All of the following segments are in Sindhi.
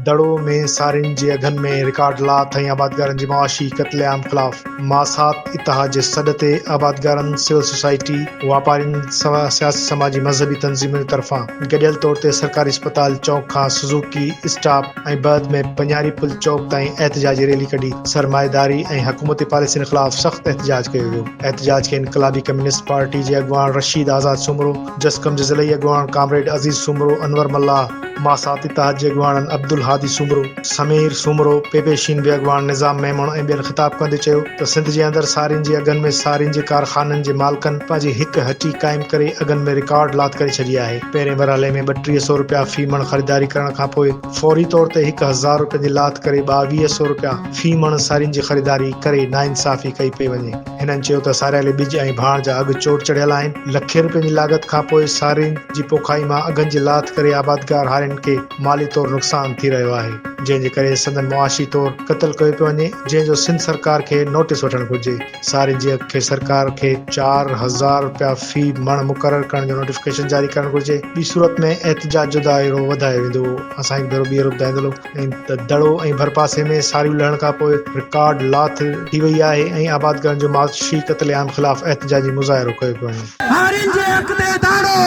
دڙو ۾ سارين جي اگهن ۾ رڪارڊ لات ۽ آبادگارن جي معاشي قتل عام خلاف ماسات اتحاد جي سڏ تي آبادگارن، سول سوسائٽي، واپارين سواء سياسي سماجي مذهبي تنظيمن طرفان گڏيل طور تي سرڪاري اسپتال چوڪ کان سزوڪي اسٽاپ ۽ بعد ۾ پنياري پل چوڪ تائين احتجاجي ريلي ڪڍي سرمائيداري ۽ حڪومتي پاليسين خلاف سخت احتجاج ڪيو ويو احتجاج کي انقلابي ڪميونسٽ پارٽي جي اڳواڻ رشيد آزاد سومرو، جسقم جي ضلعي اڳواڻ ڪامريڊ عزيز سومرو، انور ملاح، ماسات اتحاد جي اڳواڻن عبدالهادي سومرو، سمير سومرو، پي پي شين بي اڳواڻ نظام ميمڻ ۽ ٻين خطاب ڪندي چيو ته سنڌ جي اندر سارين جي اگهن ۾ سارين جي ڪارخانن جي مالڪن پنهنجي هڪ هٽي قائم ڪري اگهن ۾ رڪارڊ لاٿ ڪري ڇڏي آهي. پهرين مرحلي ۾ ٻٽيهه سئو رپيا في مڻ خريداري ڪرڻ کانپوء فوري طور تي هڪ هزار رپين جي لاٿ ڪري ٻاويهه سئو رپيا في مڻ سارين جي خريداري ڪري ناانصافي ڪئي پئي وڃي. هنن چيو ته ساريالي ٻج ۽ ڀاڻ جا اگهه چوٽ چڙهيل آهن، لکين روپين جي لاڳت کانپوء سارين جي پوکائي مان اگهن جي لاٿ ڪري آبادگار هارين کي مالي طور نقصان ٿي رهيو آهي، جنهن جي ڪري سندن معاشي طور قتل ڪيو پيو وڃي، جنهن جو سنڌ سرڪار کي نوٽيس وٺڻ گهرجي، سارين جي اگهه کي سرڪار کي چار هزار روپيا في مڻ مقرر ڪرڻ جو نوٽيفڪيشن جاري ڪرڻ گهرجي، ٻي صورت ۾ احتجاج جو دائرو وڌايو ويندو، اسان هڪ ڀيرو ٻيهر ٻڌائيندلو. ۽ دڙو ۽ ڀرپاسي ۾ ساريون لهڻ کان پوء رڪارڊ لاٿ ٿي وئي آهي ۽ آبادگارن جو معاشي قتل عام خلاف احتجاجي مظاهرو ڪيو پيو وڃي. هارين جي اک تي داڙو،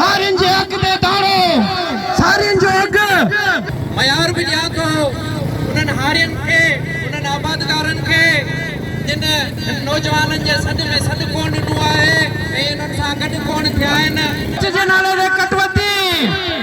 هارين جي اک تي داڙو، سارين جو اگهه. معيار به ڏيان ٿو انهن هارين کي، انهن آبادگارن کي جن هن نوجوانن جي سڏ ۾ سڏ ڪونه ڏنو آهي ۽ انهن سان گڏ ڪونه ٿيا آهن. ڪڇ جي نالي تي ڪٽ وڌي.